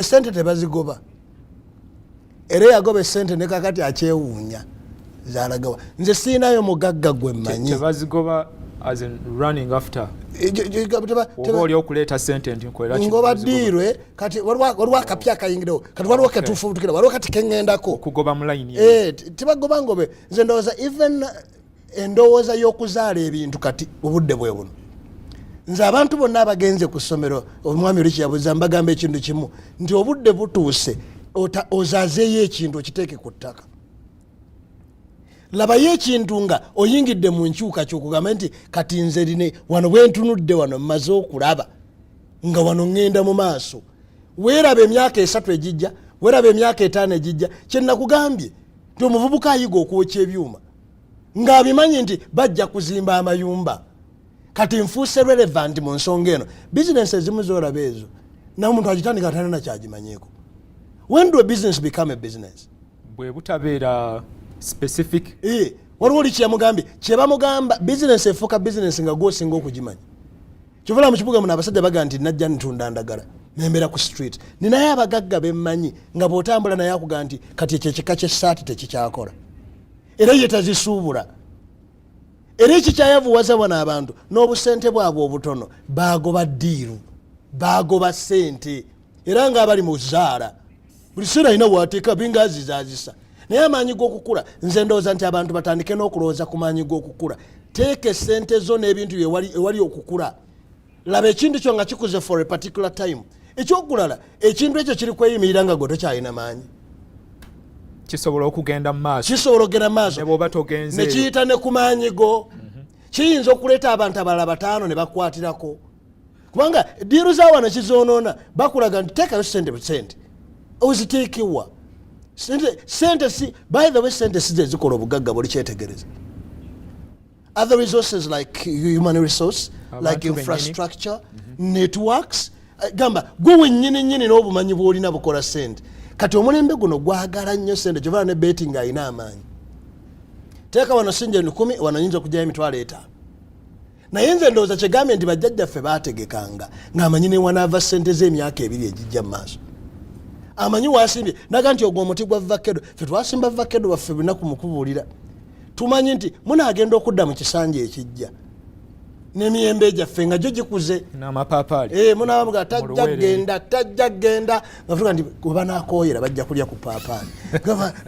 esente tebazigoba era eyagoba esente ne kakati akyewuunya zalagawa nze siinayo mugagga gwe mmanyi ngoba diirwe kati waliwo akapya akayingirawo kati waliwo ketufubutukira waliwo kati keŋŋendako eh, tibagoba ngobe nze ndowooza even endowooza y'okuzaala ebintu kati obudde bwe buno nze abantu bonna abagenze ku ssomero omwami oli kyeyabuza mbagamba ekintu kimu nti obudde butuuse ozazeeyo ekintu okiteeke ku ttaka labayo ekintu nga oyingidde mu nkyuka kyokugamba nti kati nze line wano bwentunudde wano mmaze okulaba nga wano ŋŋenda mu maaso weeraba emyaka esatu egijja weeraba emyaka etaano egijja kyenakugambye nti omuvubuka ayiga okwokya ebyuma ng'abimanyi nti bajja kuzimba amayumba kati nfuuse relevant mu nsonga eno bizinensi ezimu zoolaba ezo nawe omuntu agitandika atana nakyagimanyiiko when do a business become a business bwe butabeera specific eh, waliwo oli kyeyamugambye kyebamugamba bizinensi efuuka bizinensi nga gwosinga okugimanya kyovala mukibuga muno abasajja baga nti najja ntunda ndagala nembeera ku street ninaye abagagga bemmanyi nga bwotambula naye akuga nti kati ekyo ekika kyessaati tekikyakola era ye tazisuubula era ekikyayavuwaza bano abantu n'obusente bwabwe obutono baagoba ddiiru baagoba ssente era nga abali mu zaala buli seera alina wateeka binga azizaazisa naye amaanyi g'okukula nze ndowooza nti abantu batandike n'okulowooza ku maanyi g'okukula teeka esente zo n'ebintu ewali okukula laba ekintu kyo nga kikuze for a particular time ekyokulala ekintu ekyo kiri kweyimirira nga gwe tokyalina maanyi kisobola okugenda mumaaso kisobola okugenda mumaaso nebwoba togenze nekiyita ne ku maanyi go mhm. kiyinza okuleeta abantu abalala bataano ne bakwatirako kubanga diiru za wano kizoonoona bakulaga nti teekayo sente busente oziteekewa sente si by the way sente size zikola obugagga buli kyetegereza other resources like human resource like infrastructure mm-hmm. networks eh, gamba gwe wenyini nyini n'obumanyi bw'olina bukola sente kati omulembe guno gwagala nnyo sente kyovaa ne beti nga alina amaanyi teeka wano sinja enukumi wano nyinza okugyayo emitwalo etaano naye nze ndowooza kyegambye nti bajjajjaffe baategekanga ng'amanyi newanaava sente z'emyaka ebiri egijja mu maaso amanyi wasimbye naga nti ogwo omuti gwa vakedo fe twasimba vakedo baffe binaku mukubuulira tumanyi nti munaagenda okudda mu kisanja ekijja nemiyembe gyaffe nga gyo gikuze eh, munabamuga tajja genda tajja genda ngafuga nti webanakoyera bajja kulya ku paapaali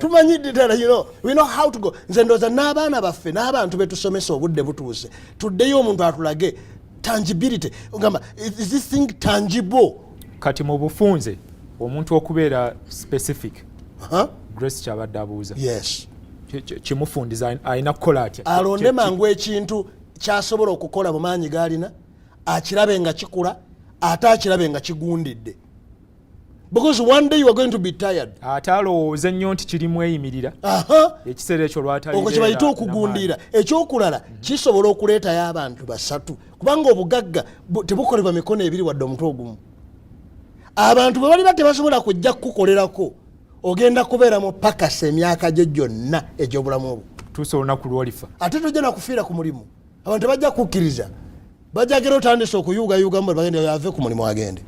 tumanyi ddala you know, we know how to go nze ndooza n'abaana baffe n'abantu betusomesa obudde butuuse tuddeyo omuntu atulage tangibility ogamba is this thing tangible kati mu bufunze omuntu okubeera specific huh? grace kyabadde abuuza yes kimufundiza alina kukola atya alonde mangu ekintu kyasobola okukola mu maanyi gaalina akirabe nga kikula ate akirabe nga kigundidde because one day you are going to be tired ate alowooze nnyo nti kirimu eyimirira ekiseera ekyo lwataliokwo kyebayita okugundiira ekyokulala mhm. kisobola okuleetayo abantu basatu kubanga obugagga tebukolebwa mikono ebiri wadde omutwe ogumu abantu bwe baliba tebasobola kujja kukukolerako ogenda kubeera mu pakasa emyaka gyo gyonna egy'obulamu obwo tuusa olunaku lwolifa ate tojja nakufiira ku mulimu abantu tebajja kukkiriza bajagera otandise okuyuugayuugamu bwe bagenda yave ku mulimu agende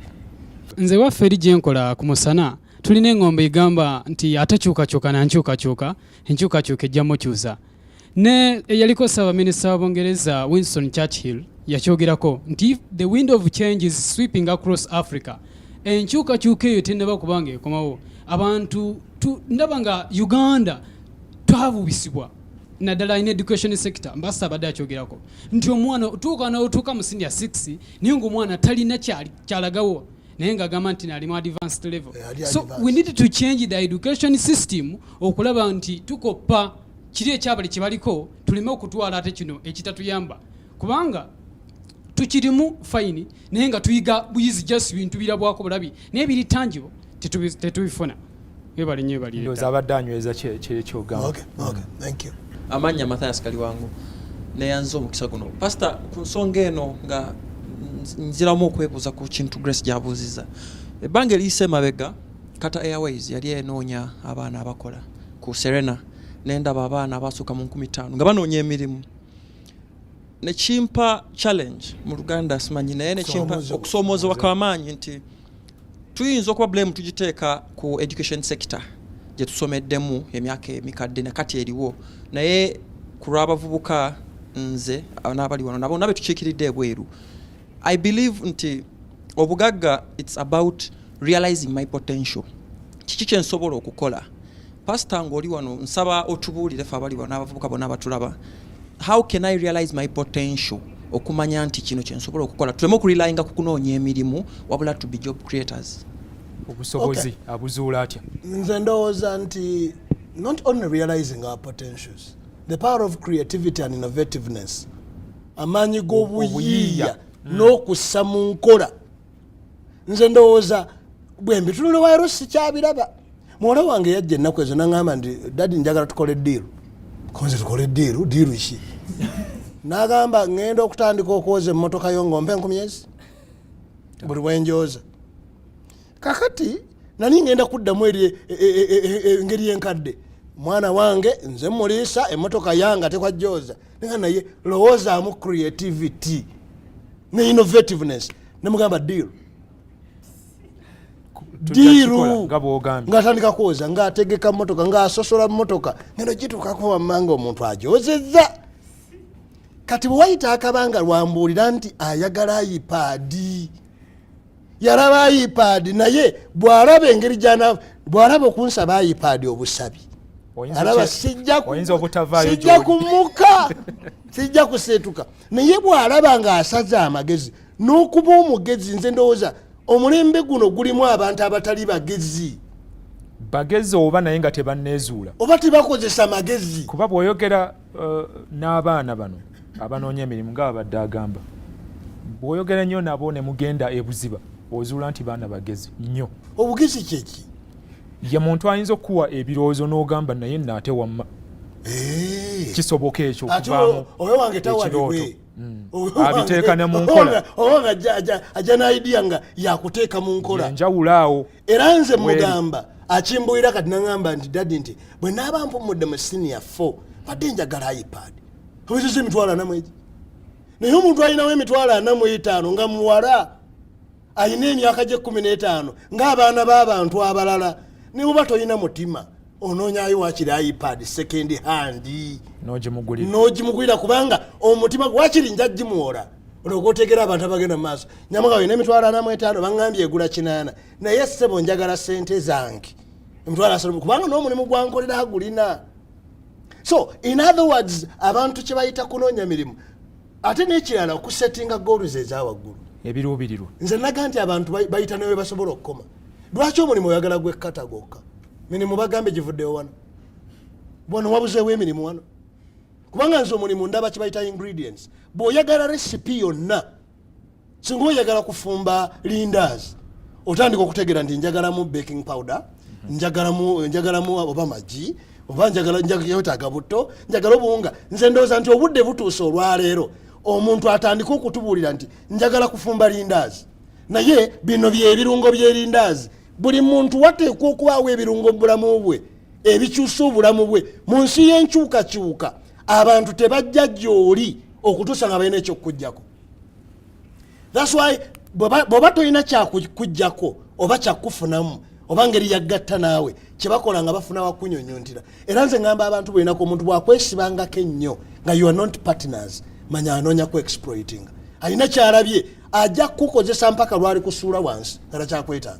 nze waffe eri gye nkola ku musana tulina engombe egamba nti atakyukakyuka nankyukakyuka enkyukakyuka ejja mukyusa ne eyaliko ssaabaminisita wa bungereza winston churchill yakyogerako nti if the wind of change is sweeping across africa enkyukakyuka eyo tenaba kubanga ekomawo abantu ndaba nga uganda twabubisibwa naddala in education sector mbasa abadde akyogerako nti omwana otuuka naotuuka mu senior 6 naye ngaomwana talina kyalagawo naye nga agamba nti nalimu advanced level eh, so we need to change the education system okulaba nti tukoppa kiri ekyabali kyebaliko tuleme okutwala ate kino ekitatuyamba kubanga tukirimu fayini naye nga tuyiga buyizi just bintu birabwako bulabi naye biri tangibo tetubifuna Ebali nyo ebali. Ndoza abadde anyweza kye kye kyogamba. Okay, okay. Thank you. Amanya Matthias Kaliwango neyanze omukisa guno. Pastor ku nsonga eno nga nziramu okwebuuza ku kintu Grace gyabuuziza. Ebbanga eriyise emabega Qatar Airways yali enoonya abaana abakola ku Serena nendaba abaana abasooka mu nkumi ttaano nga banoonya emirimu nekimpa challenge mu Luganda simanyi naye nekimpa okusoomoozebwa kwamaanyi nti tuyinza okuba blame tugiteeka ku education sector gye tusomeddemu emyaka emikadde na kati eriwo naye ku lw'abavubuka nze n'abali wano nabo nabe tukiikiridde ebweru i believe nti obugagga it's about realizing my potential kiki kyensobola okukola Pastor ngoli wano nsaba otubuulire fe abali wano abavubuka bona abatulaba how can I realize my potential okumanya nti kino kyensobola okukola tuleme okulilayinga ku kunoonya emirimu wabula to be job creators obusobozi okay. abuzuula atya nze ndowooza nti not only realizing our potentials the power of creativity and innovativeness amaanyi g'obuyiiya mm. n'okussa mu nkola nze ndowooza bwembi tunule wayiro sikyabiraba muwala wange yajja ennaku ezo naŋamba nti dadi njagala tukole diiru konze tukole diiru diiru ki nagamba ŋenda okutandika okwoza emmotoka yo ngaompa enkumyezi buli wenjooza kakati nani ŋenda kuddamu eri e, e, e, engeri enkadde mwana wange nze muliisa emmotoka yange ate kwajooza naye lowoozamu creativity ne innovativeness nemugamba deal diiru ngaatandika kwoza ngaategeka motoka ngaasosola motoka ngeno gitukako wammanga omuntu ajozeza kati bwewayita akabanga lwambuulira nti ayagala ipaadi yalaba ipaadi naye bwalaba engeri jana bwalaba okunsaba ipaadi obusabi alaba sijja kumuka sijja kuseetuka naye bw'alaba ng'asaze amagezi n'okuba omugezi nze ndowooza omulembe guno gulimu abantu abatali bagezi bagezi oba naye nga tebanneezuula oba tebakozesa magezi kuba bw'oyogera uh, n'abaana bano abanoonya emirimu nga babadde agamba bw'oyogera nnyo nabo ne mugenda ebuziba ozuula nti baana bagezi nnyo obugezi kyeki ye muntu ayinza okukuwa ebirowoozo n'ogamba naye naate wamma eh. kisoboka ekyo okuvaamuekirooto mm. abiteeka ne mu nkolaajja naidiya nga yakuteeka mu nkola enjawulo awo era nze mugamba akimbuira kati naŋamba nti dadi nti bwe naaba mpumudde mu siniya fo badde njagala ipad obiziza emitwalo anamu egi naye omuntu alinawo emitwalo anamu etaano nga muwala alina emyaka gye kumi n'etaano ng'abaana b'abantu abalala ne buba tolina mutima onoonyayo wakiri ipad second hand n'ogimugulira kubanga omutima wakiri nja gimuwola olwoga otegera abantu abagenda mu maaso nyamuga olina emitwalo ana mu etaano baŋambye egula kinaana naye ssebo njagala sente zange emitwalo asatu kubanga n'omulimu gwankolera agulina so in other words abantu kye bayita kunoonya mirimu ate nekirala okusetinga goals ezawaggulu ebiruubirirwa nze naga nti abantu bayita newe basobola okukoma lwaki omulimu oyagala gwekkata gwokka mirimu bagambe givuddewo wano wano wabuzeewo emirimu wano kubanga nze omulimu ndaba kibayita ingredients bw'oyagala recipe yonna singa oyagala kufumba lindas otandika okutegera nti njagalamu baking powder njagalamu njagalamu oba magi oba njagala njagala butto njagala obuwunga nze ndowooza nti obudde butuuse olwaleero omuntu atandika okutubuulira nti njagala kufumba lindazi naye bino byebirungo byelindazi buli muntu wateekwa okubaawo ebirungo mubulamu bwe ebikyusa obulamu bwe mu nsi y'enkyukakyuka abantu tebajja gyoli okutuusa nga balina ekyokukujjako thats why bw'oba tolina kyakujjako oba kyakufunamu oba ngeri yaggatta naawe kyebakola nga bafuna wakunyonyontira era nze ngamba abantu bwenako omuntu bwakwesibangako ennyo nga you are not partners manya anoonya ku exploiting alina kyalabye ajja kukukozesa mpaka lwali kusuula wansi nga takyakwetaaga